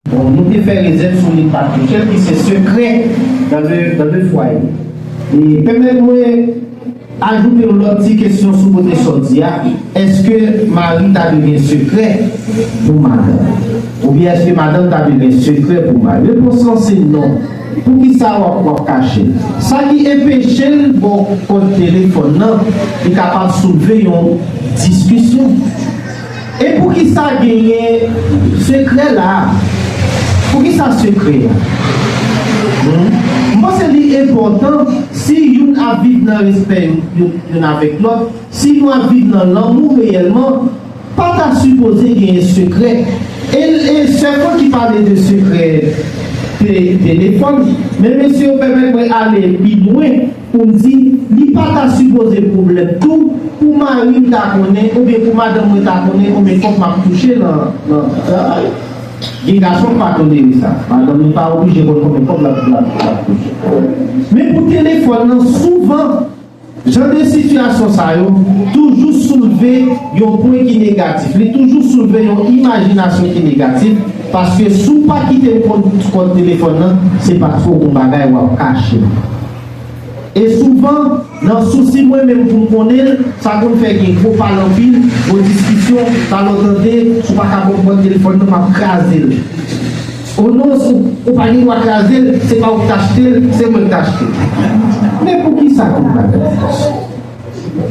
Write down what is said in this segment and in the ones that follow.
Bon nou te fè rezèv sou li pa touchel ki se sekrè nan de fwaye. E pèmèt mwen ajoute yon lòt ti kesyon sou kote sòti a, èske mari ta dwe gen sekrè pou madanm? Oubyen èske madanm ta dwe gen sekrè pou mari? Repons lan se non. Poukisa wap wap kache? Sa ki enpechel baw kòd telefòn nan li kapab soulve yon diskisyon. E poukisa genyen sekrè la a? Poukisa sekrè a? M panse li enpòtan si youn ap viv nan respè youn avèk lòt, si nou ap viv nan lanmou reyèlman, pa ta sipoze genyen sekrè. E sèlman ki pale de sekrè telefòn. Men mesye yo pèmèt mwen ale pi lwen. Pou m di, li pa ta sipoze pwoblèm tou pou mari m ta konnen oubyen pou madanm mwen ta konnen konbyen kòb m ap touche nan travay. Gen gason k pa tolere sa. Madanm li pa oblije konn konbyen kòb l ap touche. Men pou telefòn nan, souvan, jan de sitiyasyon sa yo toujou soulve yon pwen ki negatif. Li toujou soulve yon imajinasyon ki negatif. Paske si w pa kite l konn kòd telefòn nan, se paske w gon bagay w ap kache. E souvan, nan sousi mwen menm pou m konnen l, sa konn fè gen gwo pale anpil, gwo diskisyon, talè w tande, si w pa ka konn kòd telefòn nan, m ap kraze l. O non, si w pa gen dwa kraze l, se pa ou k t achte l, se mwen k t achte l. Men poukisa tout bagay sa?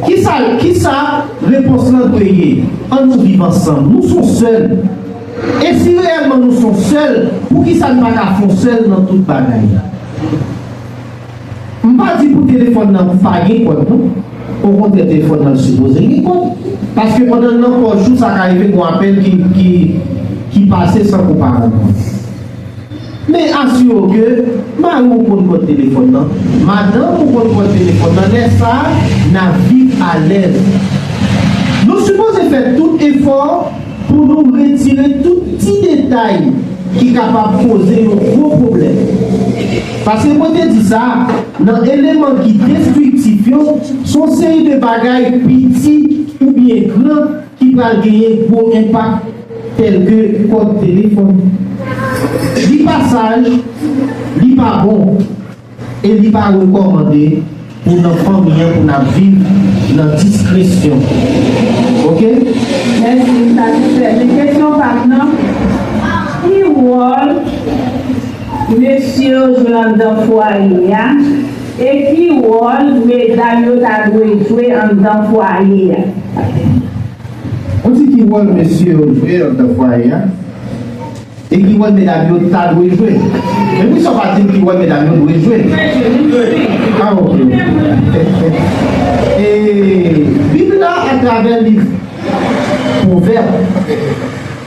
Kisa, kisa repons lan dwe ye? An nou viv ansanm. Nou son sèl. E si reyèlman nou son sèl, poukisa n pa ka fon sèl nan tout bagay? M pa di pou telefòn nan pa gen kòd non. Okontrè telefòn nan sipoze gen kòd. Paske pandan l nan pòch ou sa ka rive gon apèl ki, ki pase san ke w pa rann kont. Men asire w ke mari w konn kòd telefòn nan, madanm ou konn kòd telefòn nan, lè sa a, n ap viv alèz. Nou sipoze fè tout efò pou nou retire tout ti detay ki kapab koze yon gwo pwoblèm. Paske mwen te di sa, nan eleman ki destriktif yo, s on seri de bagay piti oubyen gran, ki pral genyen gwo enpak tèlke kòd telefòn, li pa saj, li pa bon e li pa rekòmande pou nan fanmi an pou n ap viv nan diskresyon ok. Mèsi, m satisfè. Men kesyon pa m nan, ki wòl mesye yo jwe anndan fwaye a? E ki wòl medam yo ta dwe jwe anndan fwaye a? Ou di ki wòl mesye yo jwe anndan fwaye a? E ki wòl medam yo ta dwe jwe? Men poukisa ou pa di m ki wòl medam yo dwe jwe? Ah ok ok. E Bib la atravè liv Pwovèb.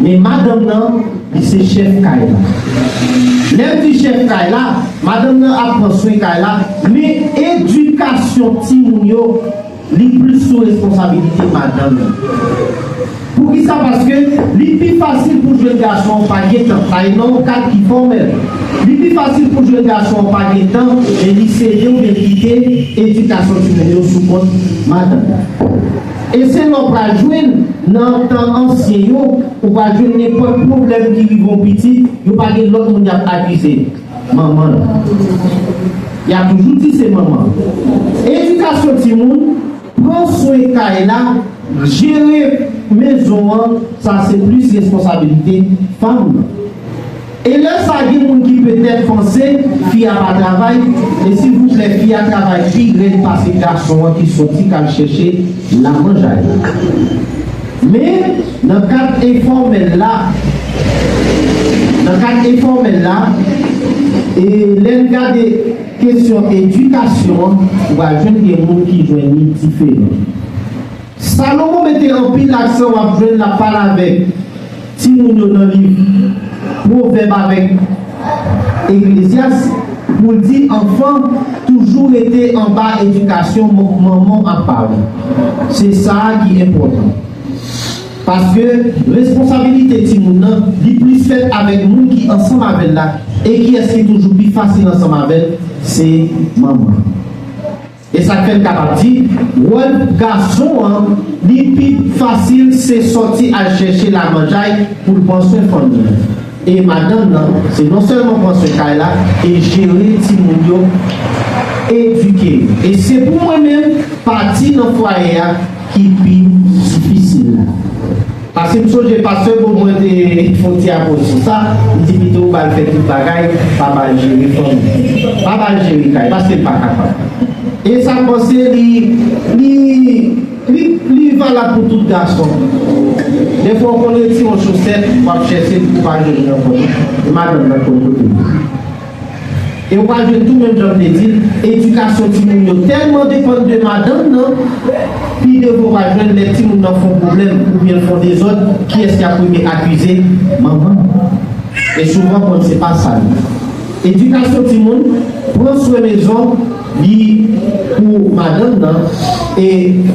Men madanm nan, li se chèf kay la. Lè m di chèf kay la, madanm nan ap pran swen kay la, men edikasyon timoun yo, li plis sou responsabilite madanm nan. Poukisa? Paske li pi fasil pou jwenn gason an pa gen tan, sa e nan yon kad ki fòmèl. Li pi fasil pou jwenn gason an pa gen tan, men li sede oubyen li kite edikasyon timoun yo sou kont madanm nan. E se la w pral jwenn, nan tan ansyen yo, ou pral jwenn nenpòt pwoblèm ki rive yon pitit, yo pa gen lòt moun y ap akize. Manman l. Y ap toujou di se manman l. Edikasyon timoun, pran swen kay la, jere mezon an, sa se plis responsabilite fanm nan. E lè sa gen moun ki petèt panse fi a pa travay, e silvouplè fi a travay pi rèd pase gason an ki soti kal chèche lamanjay la. Men, nan kad enfòmèl la, nan kad enfòmèl la, e lè n gade kesyon edikasyon an, ou pral jwenn gen moun ki jwenn li diferan. Salomon mete anpil aksan w ap jwenn l ap pale avèk. Timoun yo nan liv Pwovèb avèk Eklezyas pou l di anfan toujou rete anba edikasyon manman ak paran. Se sa a ki enpòtan. Paske responsabilite timoun nan li plis fèt avèk moun ki ansanm avè l la e kiyès ki toujou pi fasil ansanm avè l se manman. E sak fèm kapab di wòl gason an li pi fasil se sòti al chèche lamanjay poul pran swen fanmi an e madanm nan se non sèlman pran swen kay la e jere timoun yo edike yo e se pou mwen menm pati nan fwaye a ki pi difisil la. Paske m sonje pastè Bob mwen te fon ti apwoch sou sa, m di pito ou bal fè tout bagay, pa bal jere fanmi, pa bal jere kay, paske l pa kapab. E sa m panse li, li, li, li valab pou tout gason pito. Dèfwa ou konn retire yon chosèt, w ap chèche l pou w pa jwenn li ankò. E madanm nan konn kote l ye. E ou pral jwenn tou menm jan m te di l, edikasyon timoun yo tèlman depann de madanm nan, pi devan ou pral jwenn lè timoun nan fon pwoblèm oubyen l fon dezòd, kiyès y ap premye akize? Manman l. E souvan konn se pa sa li. Edikasyon timoun, pran swen mezon, li pou madanm nan, e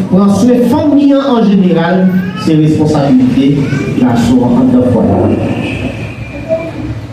pran swen fanmi an an jeneral, se responsabilite gason an anndan fwaye a.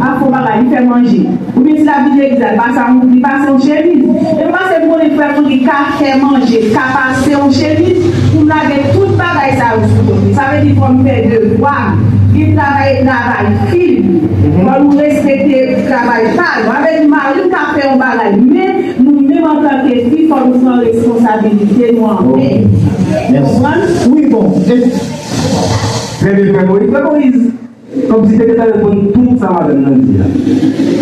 Ah fo bagay li fè manje. Ou byen di la vide egzat ba sa moun li pase yon chemiz e m pase m konnen frè moun li ka fè manje li ka pase yon chemiz pou m lage tout bagay sa yo sou do li sa vle di fò m fè devwa m li travay e travay fi l fò nou respekte travay pa nou sa vle di mari m ka fè yon bagay men nou menm antanke fi fò nou pran responsabilite nou an men ou konprann wi bon e. Trè byen frè Moyiz. Frè Moyiz. Kòmsi te gentan reponn tout sa madanm nan di a.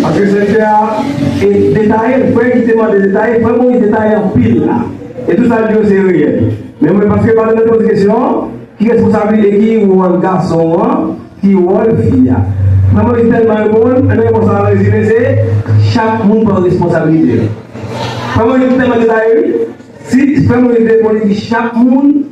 Paske sèvitè a te detaye, frè ki te mande detaye, frè Moyiz detaye anpil la. E tout sa l di yo se reyèl. Men mwen paske madanm nan te poze kesyon an, ki responsablite e ki wòl gason an, ki wòl fi a. Frè Moyiz tèlman reponn, ann repons la an rezime se, chak moun pran responsablite l. Frè Moyiz tèlman detaye wi, si frè Moyiz reponn li di chak moun.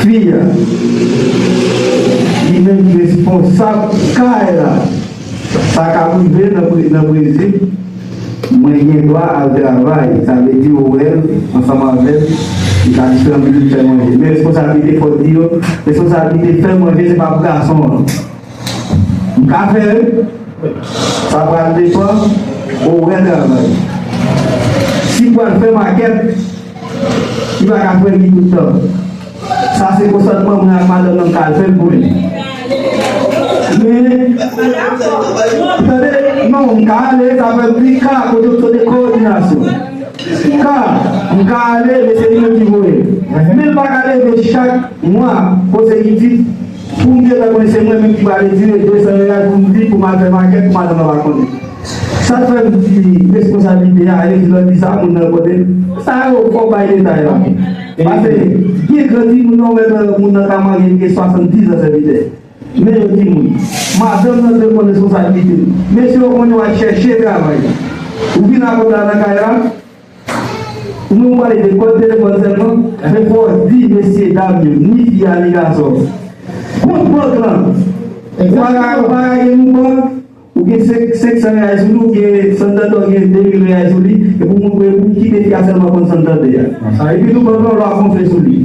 Fi a, li menm ki responsab kay la, sa ka rive nan prenzip mwen gen dwa al travay, sa vle di yo wè l ansanm avè m, li ka di fè m vin fè manje. Men responsablite fò di yo, responsablite fè manje se pa pou gason an. Mka fèl? Sa pral depan orè travay. Sim pral fè makèt, li pa ka fèl li tout tan. Sa se konsantman mwen ak madanm nan mka al fèl pou li. Men, tande, non, mka ale, sa pral di ka pou dokte de koordinasyon. Ka, mka ale, men se li menm ki voyem. Men li pa ka leve chak mwa, konsèkitif. Pou m te wè mwen se mwen menm ki pral retire 200 real pou m vin pou m al fè makèt pou madanm lan pa konnen. Sa k fè m di responsablite a rete nan di sa moun nan konnen l? Sa yo fò w bay detay la. Pase byen gran timoun nan w wè nan moun nan ka marye li gen 70 an sèvitè. Men yo timoun. Madanm nan dwe konn responsablite l. Mesye ou konnen w al chèche travay. Ou vin ak kòb la nan kay la. Nou pale de kòd telefòn sèlman, men fòs di mesye dam yo, ni fi a ni gason an. Kont bank lan, ou pa ka ou pa ka gen yon bank, ou gen 500 reyal sou li, ou gen Santander ki gen 2000 reyal sou li, epi ou moun pou ki de fi a sèlman konn Santander a. Epitou bank lan ou lwa konfye sou li.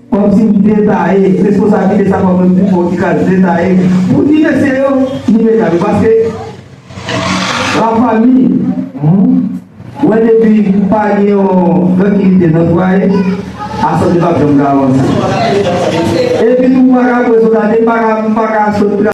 Kòmsi ou detaye responsablite sa kòm yon ti fò ki ka detaye pou di mesye yo nou mèt la yo paske la fanmi humm wè depi pa gen yon trankilite nan fwaye asante pap janm ka avanse epi tou ou paka pran sou date m paka sot